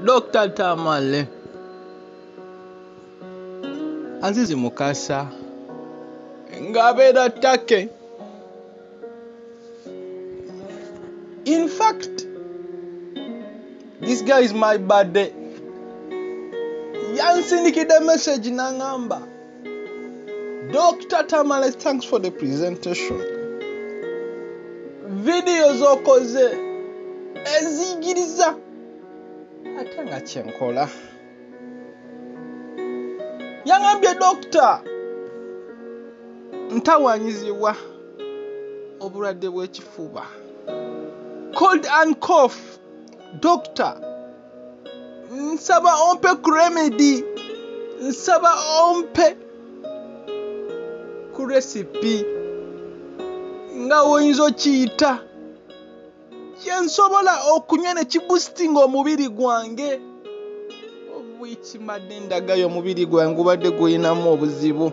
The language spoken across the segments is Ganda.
Dr. Tamale Azizi Mukasa ng'abeera Take. In fact, this guy is my birthday. Yansindikidde message n'angamba Dr. Tamale, thanks for the presentation. Video zokoze eziyigiriza ate nga kyenkola yangambye dokita ntawanyizibwa obulwadde bw'ekifuba cold and cough doctor nsaba ompe kuremedi nsaba ompe ku resipi nga woyinza okiyita kyensobola okunywa ne kibustinga omubiri gwange obwikimadde ndagayo omubiri gwange gubadde gulinamu obuzibu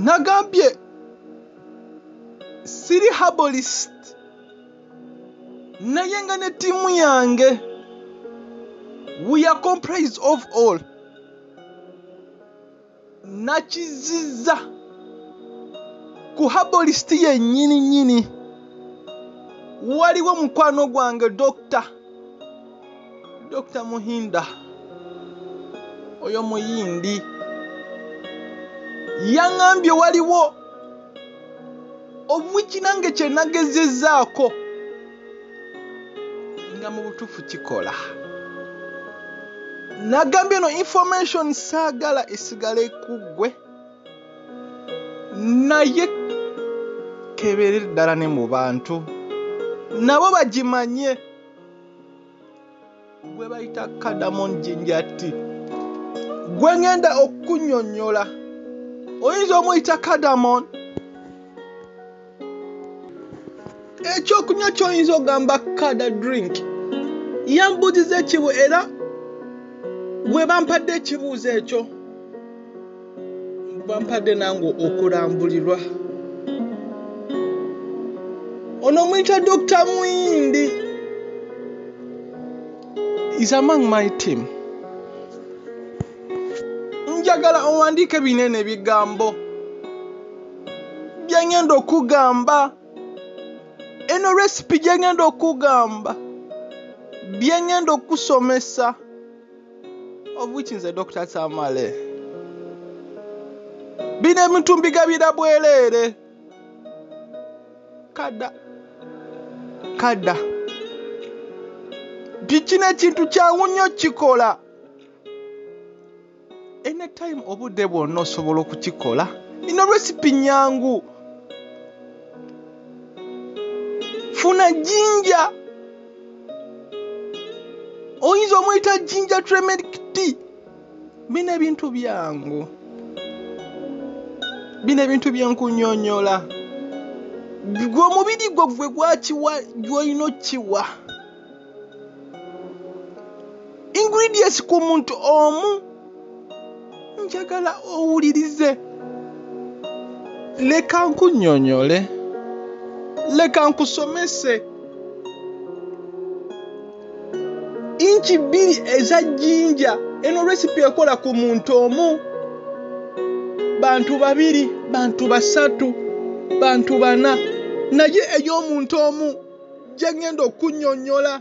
nagambye siri habolist naye nga ne ttiimu yange we are comprised of all nakizizza ku habolisiti yennyini nnyini waliwo mukwano gwange dokita Dr. Muhinda oyo muyindi yaŋambye waliwo obwiki nange kyenagezezaako nga mu butuufu kikola nagambye no information saagala esigala ekuggwe naye kebeere ddala ne mu bantu nabo bagimanye gwe bayita kadamon jinjati gwe ngenda okukunyonyola oyinza omuyita kadamon ekyokunywa kyoyinza ogamba kada drink yambuuziza ekibu era gwe bampadde ekibuuzo ekyo bampadde nange okulambulirwa ono omuyita dr muyindi is among my team njagala owandiike binene ebigambo byengenda okugamba eno resipi gyengenda okugamba byengenda okusomesa obuki nze dr samale bino ebintu mbigabira bwereere kada kada kikino ekintu kyangu nnyo kikola anytime obudde bwonna osobola okukikola ino resipi nyangu funa jinja oyinza omuyita ginger tremeric tea bino ebintu byangu bino ebintu byenkunyonyola gwe omubiri gwo gwe gwakiwa gwolina okiwa ingredients ku muntu omu njagala owulirize leka nkunyonyole leka nkusomese inki bbiri eza jjinja eno resipi ekola ku muntu omu bantu babiri bantu basatu bantu bana naye ey'omuntu omu gye ŋŋenda okunyonyola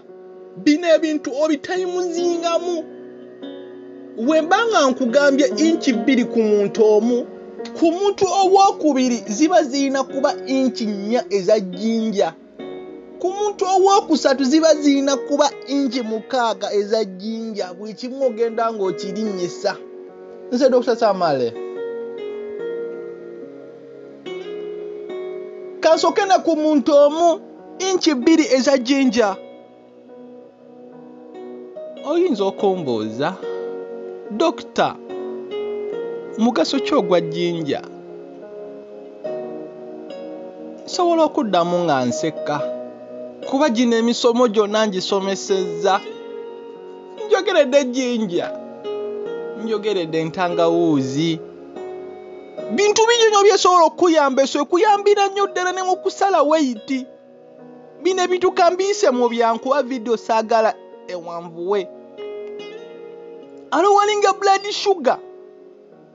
bino ebintu obitayimuzingamu bwe mba nga nkugambye inki bbiri ku muntu omu ku muntu owokubiri ziba zirina kuba inki nnya eza jjinja ku muntu owokusatu ziba zirina kuba inki mukaaga eza jjinja buli kimu ogenda ng'okirinnyisa nze dr samale kansoke ne ku muntu omu inki bbiri eza jinja oyinza okumbuuza dokita mugaso ki ogwa jinja nsobola okuddamu nga nsekka kuba gino emisomo gyonna ngisomesezza njogeredde jinja njogeredde entangawuuzi bintu bingi nyo byesobola okukuyamba eso ekuyambira nnyo ddala ne mu kusala weyiti bino ebintu kambiyise mu byankuba vidiyo saagala ewanvuwe alowalinga blood sugar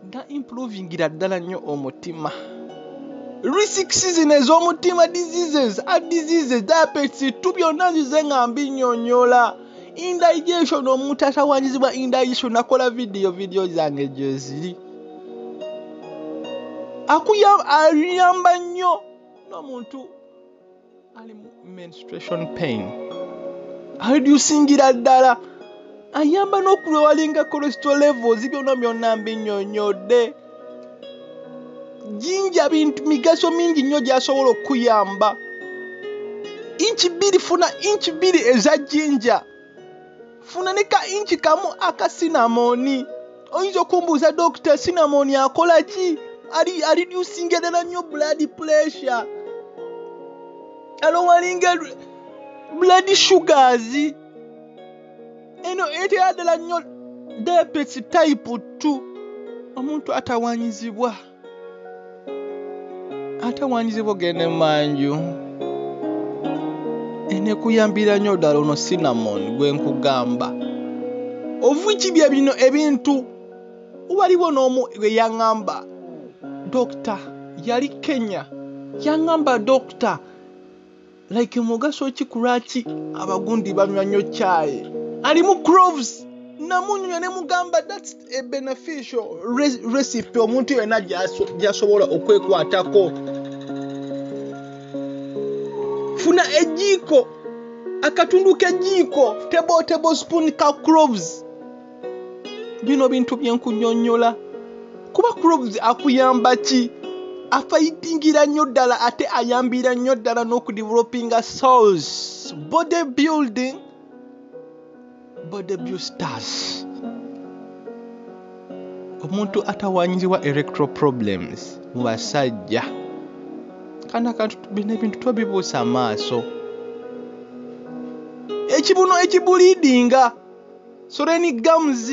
nga improvingira ddala nnyo omutima risk season ez'omutima diseases a diseases diabetes tu byonna nzize nga mbinyonyola indigestion omuntu atawanyizibwa indigestion nakola vidiyo vidiyo zange gyeziri akuyamba nnyo n'omuntu ali mu menstration pain aredusingira ddala ayamba n'okulwewalinga kolesito levels byona byonna mbinyonyodde jinja bintu migaso mingi nnyo gyasobola okukuyamba inki bbiri funa inki bbiri eza jinja funa ne ka inki kamu aka sinamoni oyinza okumbuuza dokita sinamoni akola ki ali alidyusinga ddala nnyo blood pressure alowalinga blood sugars eno eteyaddala nnyo debesi tayipu t omuntu atawanyizibwa atawanyizibwa ogenda emanju enekuyambira nnyo ddala ono cinnamon gwe nkugamba ovuki bye bino ebintu waliwo n'omu gwe yaŋŋamba dokita yali kenya yaŋŋamba dokita like mugaso ki kulwaki abagundi banywa nnyo kyayi alimu croves namunyunya nemugamba thats a beneficial recipe omuntu yena gyasobola okwekwatako funa ejiiko akatundu kejiiko table table spoon ka croves bino bintu byenkunyonyola kuba crobs akuyamba ki afayitingira nnyo ddala ate ayambira nnyo ddala n'okudevelopinga souls body building body busters omuntu atawanyirirwa electro problems mu basajja kana kantu bino ebintu tobibuusa amaaso ekibuno ekibuliidinga So then it comes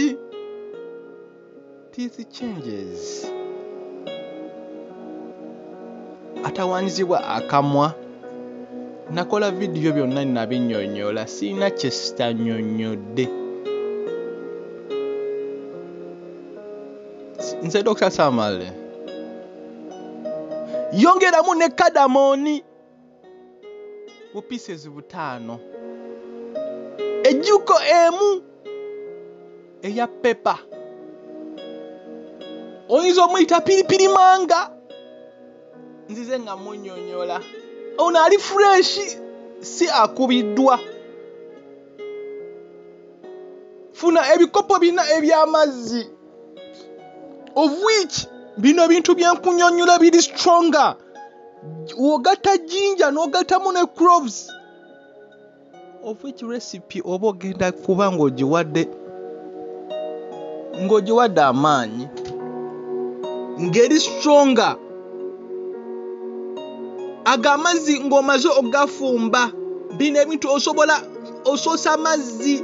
teeth changes. Atawaanyizibwa akamwa nakola vidiyo byonna nabinyonyola sirina kyesitanyonyodde nze dr samale yongeramu ne kadamoni bu pieces butaano ejjuko emu eya pepa oyinza omuyita piripiri manga nzize nga munyonyola ono ali fureshi si akubiddwa funa ebikopo bina eby'amazzi of which bino bintu byenkunyonyola biri stronger ogatta jinja n'ogattamu ne croves of which recipe oba ogenda kuba ng'ogiwadde ng'ogiwadde amaanyi ng'eri stronger ago amazzi ng'omaze okugafumba bino ebintu osobola osoosa amazzi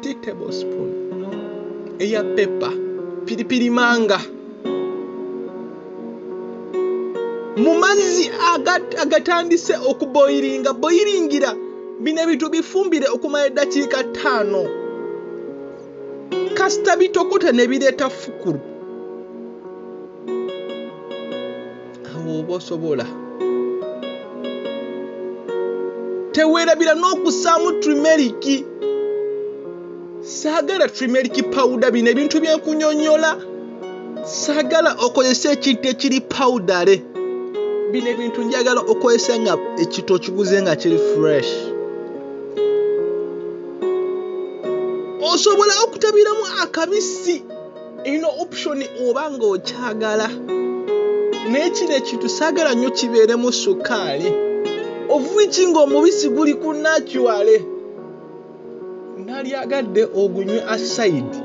tea table spoon eya pepa piripiri manga mu mazzi agatandise okuboyiringa boyiringira bino ebintu bifumbire okumala eddakiika ttaano kasita bitokota ne bireeta fukulu awo oba osobola teweerabira n'okusaamu trimeriki saagala trimeriki pawuda bino ebintu byenkunyonyola saagala okozesa ekintu ekiri pawudale bino ebintu njagala okozesa nga ekintu okiguze nga kiri fresh osobola okutabiramu akabisi ino option oba nga okyagala naye kino ekintu saagala nnyo kibeeremu sukaali ovuiki ng'omubisi guli ku nacuale nalyagadde ogunywe asaidi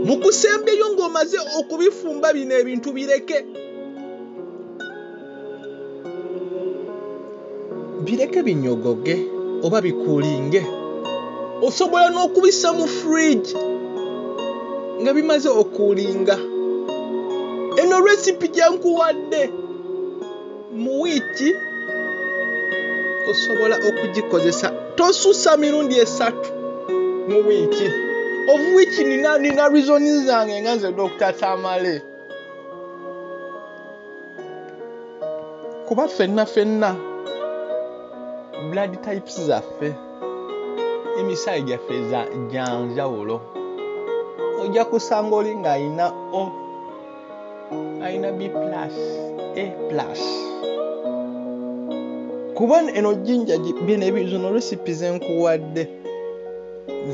mu kusembyeyo ng'omaze okubifumba bino ebintu bireke bireke binyogoge oba bikuulinge osobola n'okubisa mu fridge nga bimaze okuulinga eno recipe gyenkuwadde mu wiiki osobola okugikozesa tosusa mirundi esatu mu wiiki omu wiiki nina nina reasoni zange nga nze dokita tamale kuba fenna fenna blood types zaffe emisaayi gyaffe gyanjawulo ojja kusanga oli ng'alina o alina b plus a plus kuba eno jinja bino ebizino recipe zenkuwadde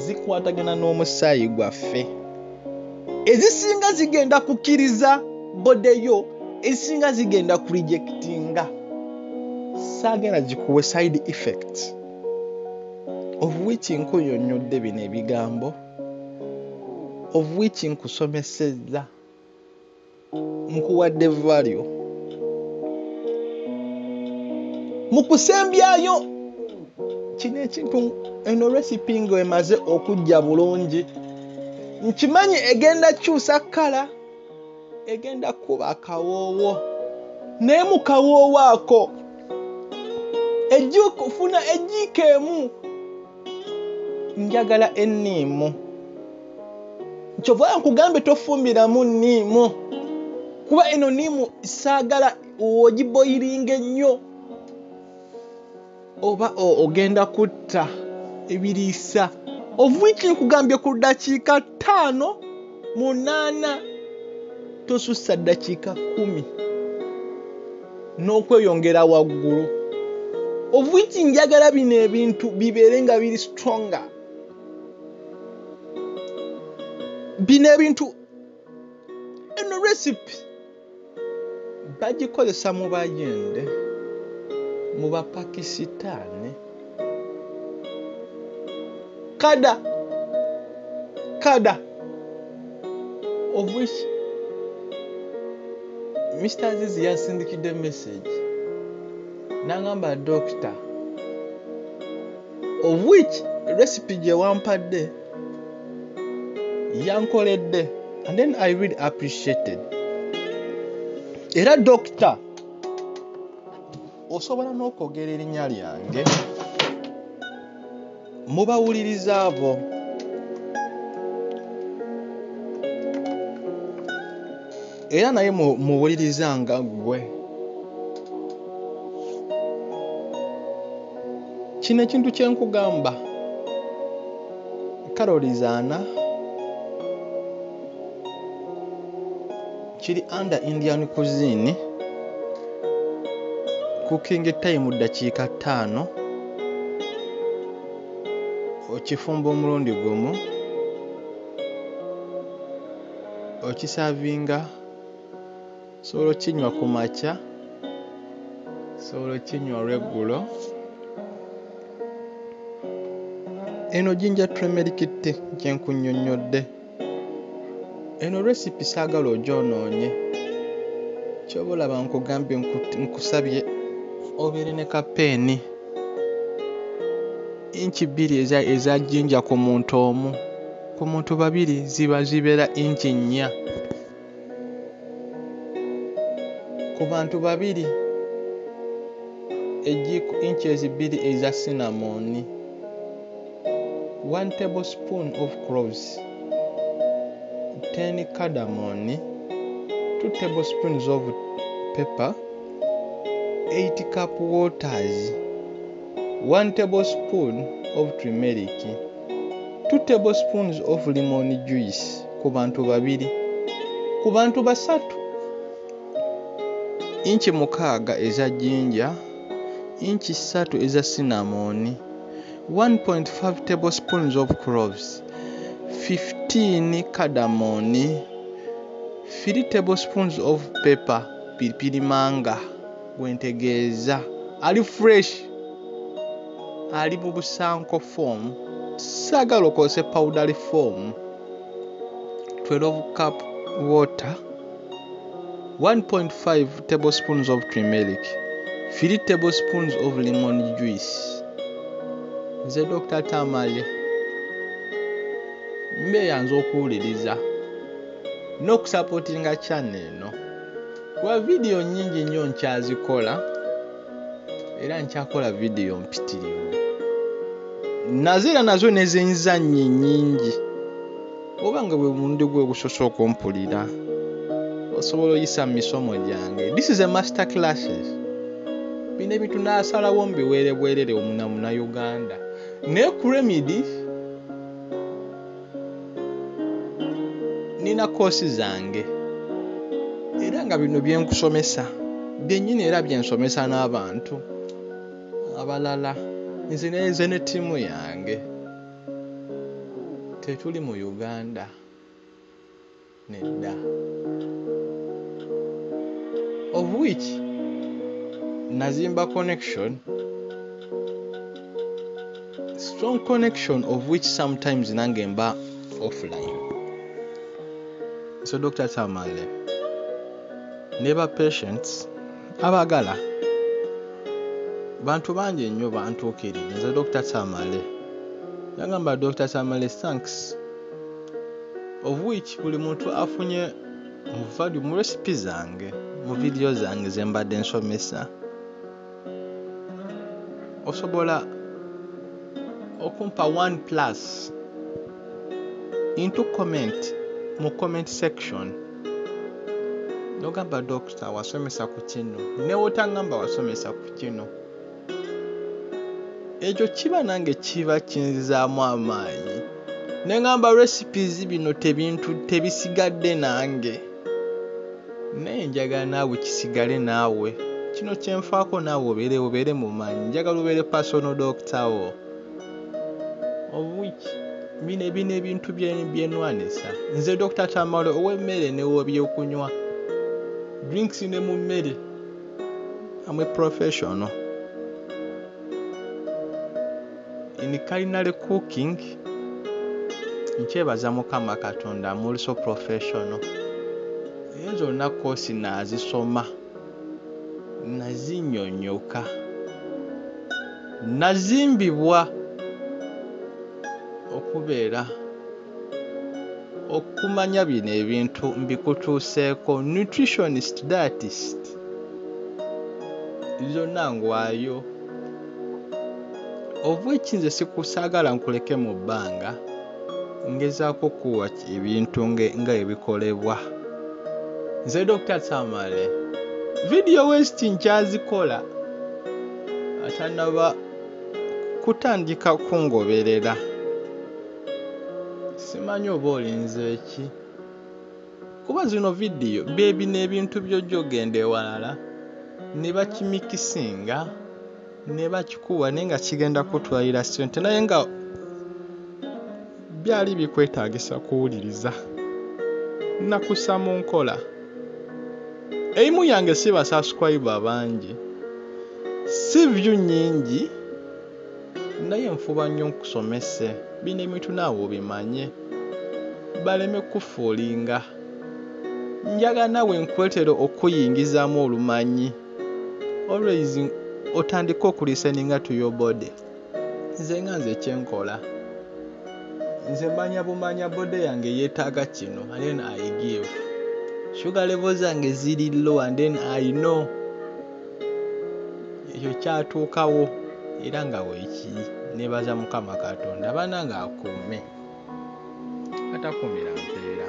zikwatagana n'omusaayi gwaffe ezisinga zigenda kukkiriza bodeyo ezisinga zigenda kurejectinga saagenda zikuwe side effect of which nkuyonyodde bino ebigambo of which nkusomesezza nkuwadde value mu kusembyayo kino ekintu eno recipe nga emaze okujja bulungi nkimanyi egenda kyusa kkala egenda kuba akawoowo naye mu kawoowo ako ejjukufuna ejjiiko emu njagala enniimu kyova nkugambye tofumbiramu nniimu kuba eno niimu saagala ogiboyiringa ennyo oba ogenda kutta ebiriisa ovuiki nkugambye ku ddakiika ttaano munaana tosussa ddakiika kumi n'okweyongera waggulu obwingi njagala bino ebintu bibeere nga biri stronga bino ebintu eno recipe bagikozesa mu bayende mu bapakisitaani kada kada of which mr azizi yasindikidde message nangamba dokita of which recipe gyewampadde yankoledde and then i really appreciated era dokita osobola n'okwogera erinnya lyange mu bawuliriza abo era naye muwuliriza nga ggwe kino ekintu kye nkugamba karoli zaana kiri under indian cuisine cooking time ddakiika ttaano okifumba omulundi gumu okisavinga osobola okinywa ku makya osobola okinywa olweggulo eno jinja tremerikite kyenkunyonyodde eno recipe saagala ogyonoonye kyoba olaba nkugambye nkusabye obeere ne kapeeni inki bbiri eza jinja ku muntu omu ku muntu babiri ziba zibeera inci nnya ku bantu babiri egiiko inci ezibbiri eza sinamooni one table spoon of croves ten cadamooni two table spoons of pepper eight cup waters one table spoon of trimeric 2 tablespoons of lemon juice ku bantu babiri ku bantu basatu inchi mukaaga eza jinja inchi ssatu eza cinnamon 1.5 tablespoons of cloves 15 cardamon 3 tablespoons of pepper piripirimanga gwentegeeza ali fresh ali mu busanko form saagala okozese powdery form 12 cup water 1.5 table spoons of trimeric 3 table spoons of lemon juice nze dr tamale mbeeyanza okuwuliriza n'okusapotinga channel eno no. wa vidiyo nnyingi nnyo nkyazikola era nkyakola vidiyo mpitirivu nazo era nazo nezenzannye nnyingi oba nga bwe mulundi gwe ogusose okumpulira osobola oyisa mu misomo gyange this is a master classes bino ebintu nasalawo mbiweerebwerere omunamunauganda naye ku remidi nina koosi zange era nga bino byenkusomesa byennyini era byensomesa n'abantu abalala nze neze ne ttiimu yange tetuli mu uganda Nedda. Of which nazimba connection strong connection of which sometimes nange mba offline so dr tamale ne ba patients abagala bantu bangi ennyo bantuukirira nze dr tamale yagamba dr tamale thanks of which buli muntu afunye mu value mu recipe zange mu video zange zembadde nsomesa osobola okumpa one plus into comment mu comment section nogamba dokita wasomesa ku kino newotangamba wasomesa ku kino ekyo kiba nange kiba kinzizaamu amaanyi ne ŋamba recipes bino tebintu tebisigadde nange naye njagala naawe kisigale naawe kino kyenfaako naawe obeere obeere mu maanyi njagala obeere personal doctor wo obuki bino bino ebintu byenwanisa nze dr tamale ow'emmere new'ebyokunywa drinks ne mu mmere I'm a professional in culinary cooking. Nkyebaza Mukama Katonda, I'm also professional. Ezo zonna koosi nazisoma nazinyonyoka nazimbibwa okubeera okumanya bino ebintu mbikutuuseeko nutritionist dietist zonna ngwayo oba ekinze sikusagala nkuleke mu bbanga ngezaako kuwa ebintu nga ebikolebwa nze dr tamale vidiyo west nkyazikola atanaba kutandika kungoberera simanyi oba olinze ki kuba zino vidiyo bebino ebintu byojja ogenda ewalala ne bakimikisinga ne bakikuwa naye nga kigenda kutwalira sente naye nga byali bikwetagisa kuwuliriza nakusa mu nkola eimu yange si basasukwayiba bangi si vyu nyingi Naye nfuba nnyo nkusomese bino ebintu naawe obimanye baleme kukufoolinga. Njagala naawe nkuletere okukuyingizaamu olumanyi always otandike okulisteninga to your body. Nze nga nze kye nkola nze manya bumanya body yange yeetaaga kino and then I give. Sugar level zange ziri low and then I know ekyo kyatuukawo era nga weekiri nneebaza Mukama Katonda banange akuume atakuumira mpeera.